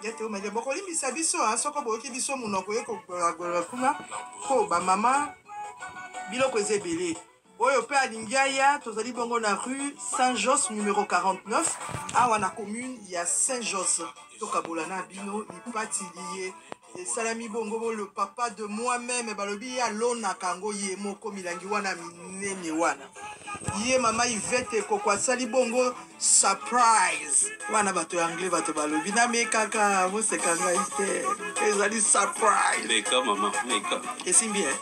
Yete omeke bokolimbisa biso a soko boyoki biso monoko ye kogolagolola kuna mpo bamama biloko eza ebele oyo mpe alingi aya tozali bongo na rue saint jos numero 49 awa na commune ya saint jos tokabola na bino lipati liye esalami bongo bo le papa de moi meme balobi ye alonaka yango ye moko milangi wana minene wana ye mama ivete koko asali bongo surprise wana bato ya anglais bato balobi namekaka boseka ngai te ezali surprise esimbi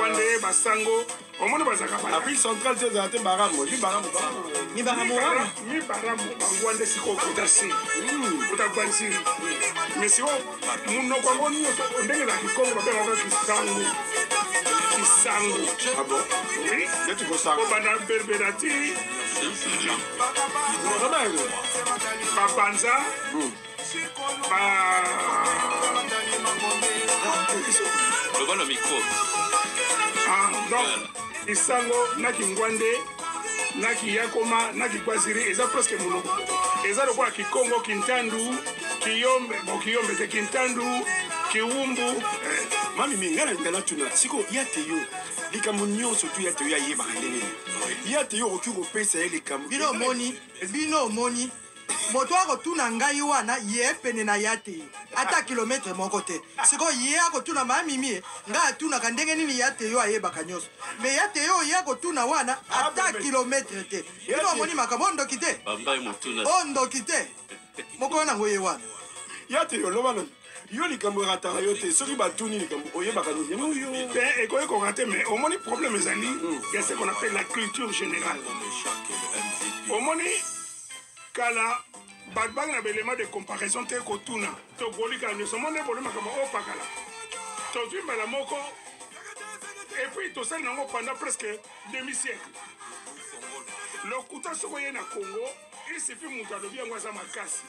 wande basango omoni bazalaka bana puis central te ezala te baramo ni baramo ni baramo wana ni baramo bango wande siko okuta se okuta gwansiri mais siko munoko yango nyonso ndenge ezala kikongo babengaka kisango kisango abo oui neti kosango obanda berbera ti babanza loba na micro ah, donc isango na kingwande na kiyakoma na kikwaziri eza presque monoko eza lokola kikongo kintandu kiyombe bon kiyombe te kintandu kiwumbu eh, mami minga na linga natuna sikoyo ya te yo likambo nyonso tu ya te yo ayebaka ndenge nini ya te yo okoki kopesa ye likambo bino omoni bino omoni moto akotuna ngai wana ye pene na ya te ata kilometre moko te sikoyo ye akotuna ma mimie ngai atunaka ndenge nini ya te yo ayebaka nyonso me ya te yo ye akotuna wana ata kilometre te bino amoni makambo oyo ndoki te oyo ndoki te mokolo nango ye wana ya te yo loba yo likambo erataka yo te soki batuni likambo oyebaka nini yango yo te ekoki koka te mais omoni problème ezali hmm. ya ce qu'on appelle la culture générale omoni kala bato bangi na baelema de comparaison te kotuna tokolika nyonso omoni eboli makambo opakala tozwi mbala moko epuis tosali nango pendant presque demi siècle lokuta soko ye na congo Il suffit mutu alobi yango aza makasi.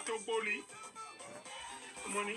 Toboli. Omoni?